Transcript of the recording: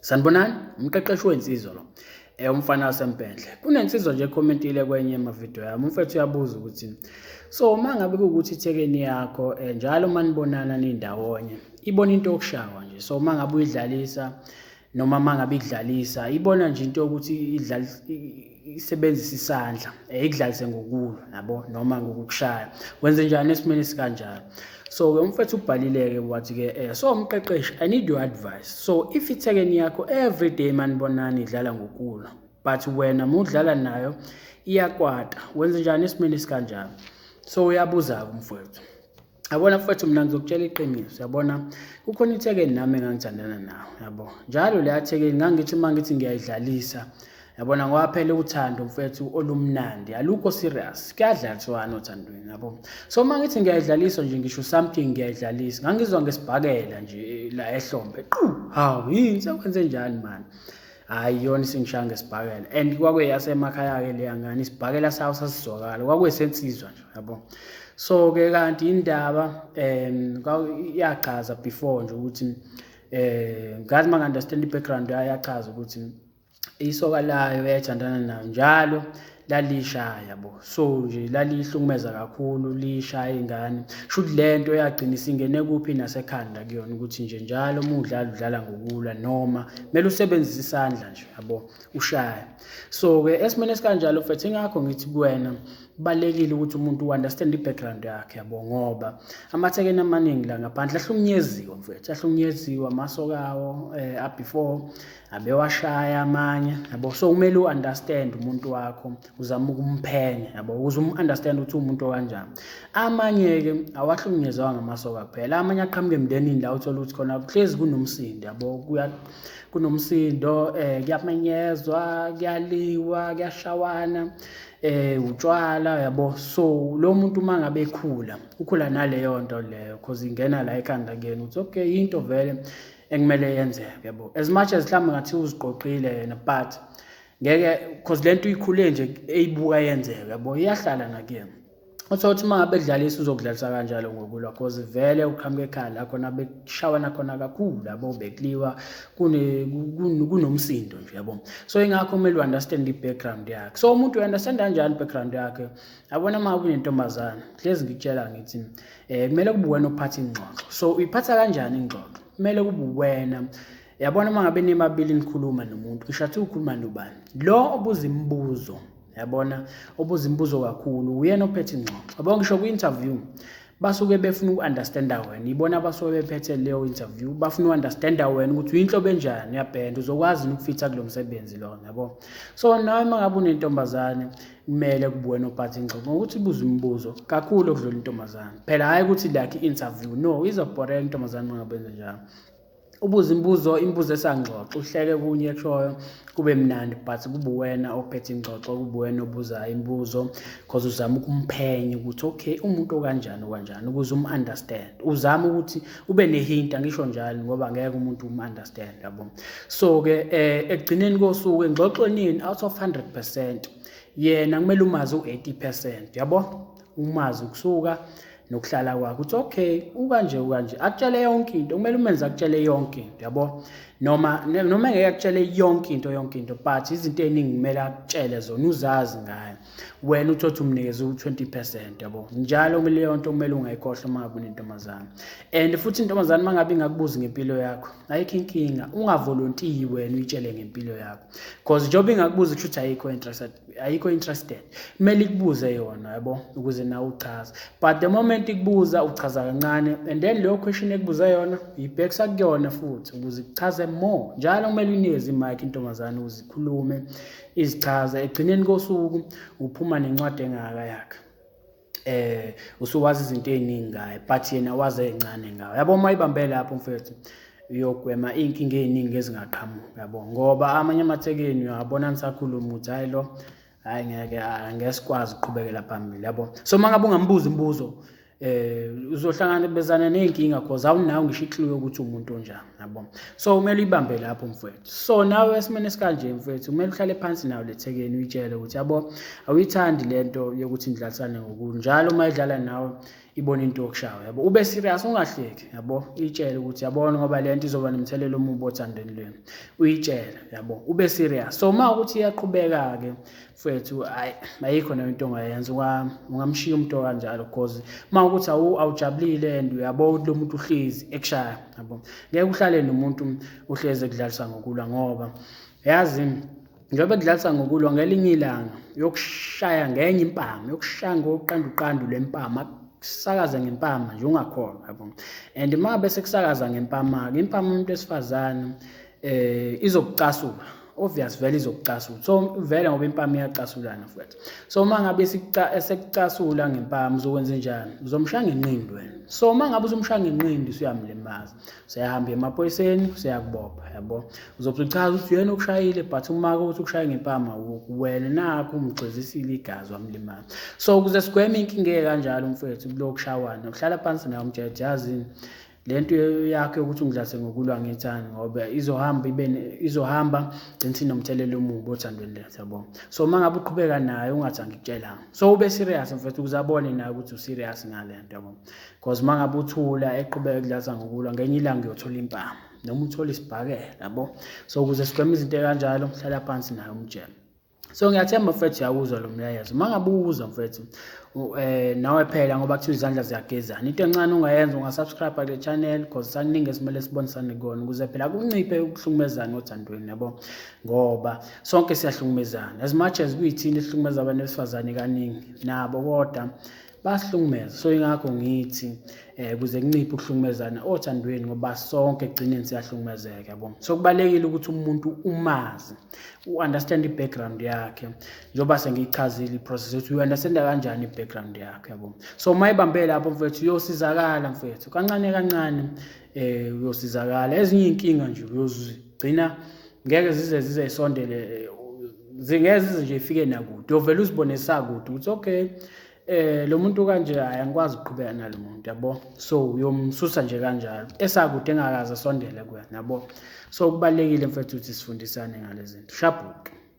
sanibonani umqeqeshi wensizwa lo eh umfana wasempendle kunensizwa nje commentile kwenye amavideo yami umfethu uyabuza ukuthi so uma ngabe kuwukuthi ithekeni yakho eh, njalo uma nibonana nindawonye ibona into yokushawa nje so uma ngabe uyidlalisa noma mangabe idlalisa ibona nje into ukuthi idlala isebenzisa isandla eh, ikudlalise ngokulo yabo noma ngokukushaya wenze njani esimeni sikanjalo so ke umfethu ubhalileke wathi ke eh so umqeqeshi i need your advice so if ithekeni yakho every day manibonani idlala ngokulo but wena mudlala nayo iyakwata wenze njani esimeni sikanjalo so uyabuza-ke umfowethu yabona mfowethu mina ngizokutshela iqiniso yabona kukhona ithekeni nami engangithandana nawo yabo njalo leya thekeni ngangithi uma ngithi ngiyayidlalisa yabona ngoba phela uthando mfethu olumnandi alukho serious kuyadlaliswana othandweni yabo so uma ngithi ngiyayidlalisa nje ngisho something ngiyayidlalisa ngangizwa ngesibhakela nje la ehlombe qu hawu yini sekwenze njani mani hhayi iyona isingishanga isibhakela and kwakuyeyasemakhaya-ke leya ngane isibhakela sawo sasizwakala kwakuyesensizwa nje yabo so-ke kanti indaba um yachaza before nje ukuthi um eh, ngathi uma ngi-understand i-background yayo yachaza ukuthi isoka layo yayithandana nayo njalo lalisha yabo so nje lalihlukumeza kakhulu lishaya ingane shuthi lento yagcina isingene kuphi nasekhanda kuyona ukuthi nje njalo uma udlala udlala ngokulwa noma kumele usebenzise isandla nje yabo ushaya so ke esimene sikanjalo mfethu ingakho ngithi kuwena kubalekile ukuthi umuntu uunderstand i-background yakhe yabo ngoba amathekeni amaningi la ngaphandle ahlunyeziwe mfethu ahlunyeziwe amasokawo um eh, abefore abewashaya amanye yabo so kumele u-understand umuntu wakho uzama ukumphenya yabo ukuze umu-understand ukuthi uwumuntu okanjani amanye-ke awahlukunyezwa ngamasoka kuphela amanye aqhamuke emndenini la uthole ukuthi khona kuhlezi kunomsindo yabo kunomsindo um eh, kuyamenyezwa kuyaliwa kuyashawana eh utshwala yabo so lo muntu uma ngabe ekhula ukhula naleyo nto leyo cause ingena la ekhanda kuyena ukuthi okay into vele ekumele yenzeke bo as much as mhlawumbe ngathi uziqoqile yena but ngeke because lento uyikhule nje eyibuka yenzeke yabo iyahlala nakuyena uthe uthi uma ngabe kudlalisa uzokudlalisa kanjalo ngokulwa because vele uqhamuka ekhaya la khona bekushawana khona kakhulu labo bekuliwa kunomsindo nje yabo so ingakho kumele u-understand i-background yakhe so umuntu u-understand kanjani i-background yakhe yabona uma kunentombazane hlezi ngikutshela ngithi eh kumele kube wena ophatha ingxoxo so uyiphatha kanjani ingxoxo kumele kube wena yabona uma ngabe nimabili nikhuluma nomuntu ngisho athi ukhuluma nobani lo obuza imibuzo yabona obuza imibuzo kakhulu uyena ophethe ingxoxo yabo ngisho kwi-interview basuke befuna uku-understanda wena ibona abasuke bephethe leyo interview bafuna uku-understanda wena ukuthi uyinhlobo enjani uyabhenda uzokwazi ukufitha kulo msebenzi lona yabo so nawe uma ngabe unentombazane kumele kubuwena ophathe ingxoxo ngokuthi ibuze imibuzo kakhulu okudlula intombazane phela hhayi ukuthi like i-interview no izobhoreka intombazane ungabenze njalo ubuze imibuzo imibuzo esangxoxo uhleke kunye kushoyo kube mnandi but kube wena ophethe ingxoxo kube wena obuzayo imibuzo because uzama ukumphenya ukuthi okay umuntu okanjani okanjani ukuze umu-understand uzame ukuthi ube nehint angisho njalo ngoba ngeke umuntu umunderstand yabo so ke eh ekugcineni kosuku engxoxweni out of 100% yena kumele umazi u80% yabo umazi ukusuka nokuhlala kwakho uthi okay ukanje ukanje akutshele yonke into kumele umenze akutshele yonke into yabo noma noma engeke akutshele yonke into yonke into but izinto eziningi kumele akutshele zona uzazi ngayo wena uthothi umnikeze u-20 percent yabo njalo kumele leyo nto kumele ungayikhohlwa uma ngabe unentombazane and futhi intombazane uma ngabe ingakubuzi ngempilo yakho ayikho inkinga ungavolontiyi wena uyitshele ngempilo yakho because njengoba ingakubuzi kusho ukuthi ayikho interested ayikho interested kumele ikubuze yona yabo ukuze nawe uchaze but the moment ikubuza uchaza kancane and then leyo question ekubuza yona yibhekisa kuyona futhi ukuze ikuchaze more njalo kumele unikeze imike intombazane ukuze ikhulume izichaza ekugcineni kosuku uphuma nencwadi engaka yakhe eh usuwazi izinto eziningi ngaye but yena waze encane ngawe yabo uma ibambe lapho mfethu uyogwema iy'nkinga ey'ningi ezingaqhamuki yabo ngoba amanye amathekeni uyawabona nisakhuluma ukuthi hhayi lo hhayi ngeke angeke sikwazi ukuqhubekela phambili yabo so uma ngabe ungambuza imibuzo eh uzohlangana bezana nezinkinga because awunawo ngisho ikliwe ukuthi umuntu onjani yabo so kumele uyibambe lapho mfowethu so nawe esimene sikanje mfowethu kumele uhlale phansi nawo lethekeni uyitshele ukuthi yabo awuyithandi lento yokuthi nidlalisane ngokunjalo uma idlala nawe ibona into yokushawa yabo ube serious ungahleki yabo uyitshele ukuthi yabona ngoba le nto izoba nomthelela omubi othandweni lwenu uyitshele yabo ube serious so uma ukuthi iyaqhubeka-ke mfethu hayi ayikho nayo into ongayenza ungamshiya umuntu okanjalo because uma ukuthi awujabulile and uyabona ukuthi lo muntu uhlezi ekushaya yabo ngeke uhlale nomuntu uhlezi ekudlalisa ngokulwa ngoba yazi njengoba kudlalisa ngokulwa ngelinye ilanga yokushaya ngenye impama yokushaya ngoqandu qandu lempama kusakaza ngempama nje ungakholwa yabo and uma bese kusakaza ngempama-ke impama umuntu wesifazane eh izokucasula obvious vele izokucasula so vele ngoba impama iyacasulana futhi so uma ngabe esekucasula ngempama uzokwenza njani uzomshaya ngenqindi wena so uma ngabe uzomshaya ngenqindi usuyamlimaza useyahamba emaphoyiseni useyakubopha yabo uzobe uchaza ukuthi yena ukushayile but uma ukuthi ukushaye ngempama wena nakho umgxizisile igazi wamlimaza so ukuze sigweme inkinga kanjalo mfethu kulokushawana uhlala phansi naye umjeje yazini le nto yakho yokuthi ungidlase ngokulwa ngithandi ngoba izohamba ibe izohamba gcina sinomthelela omubi othandweni lethu yabo so uma ngabe uqhubeka naye ungathi angikutshelanga so ube serious mfethu ukuze abone naye ukuthi userious ngale nto yabo because uma ngabe uthula eqhubeka kudlasa ngokulwa ngenye ilanga uyothola impama noma uthole isibhakela yabo so ukuze sigweme izinto ekanjalo hlala phansi naye umjele so ngiyathemba mfethu yawuzwa lo mlayezo uma ngabe uwuzwa mfethu um nawe phela ngoba kuthiwa izandla ziyagezana into encane ungayenza ungasubscribe kule channel cause saningi esimele sibonisane kona ukuze phela kunciphe ukuhlukumezana othandweni yabo ngoba sonke siyahlukumezana as much as kuyithini esihlukumeza abantu besifazane kaningi nabo kodwa bayasihlukumeza so ingakho ngithi eh kuze kunciphe ukuhlukumezana othandweni ngoba sonke egcineni siyahlukumezeka yabo so kubalekile ukuthi umuntu umazi u-understand i-background yakhe njengoba sengiyichazile i-process ukuthi uyi-understanda kanjani i-background yakhe yabo so uma ibambe lapho mfethu uyosizakala mfethu kancane kancane um uyosizakala ezinye iy'nkinga nje uyozigcina ngeke zize zize isondele eh, zingeke zize nje ifike nakude ovele uzibone sakude ukuthi okay eh lo muntu kanje hayi angikwazi ukuqhubeka nalo muntu yabo so uyomsusa nje kanjalo esakude engakaze asondele kuwena yabo so kubalekile mfethu ukuthi sifundisane ngalezinto shabhuke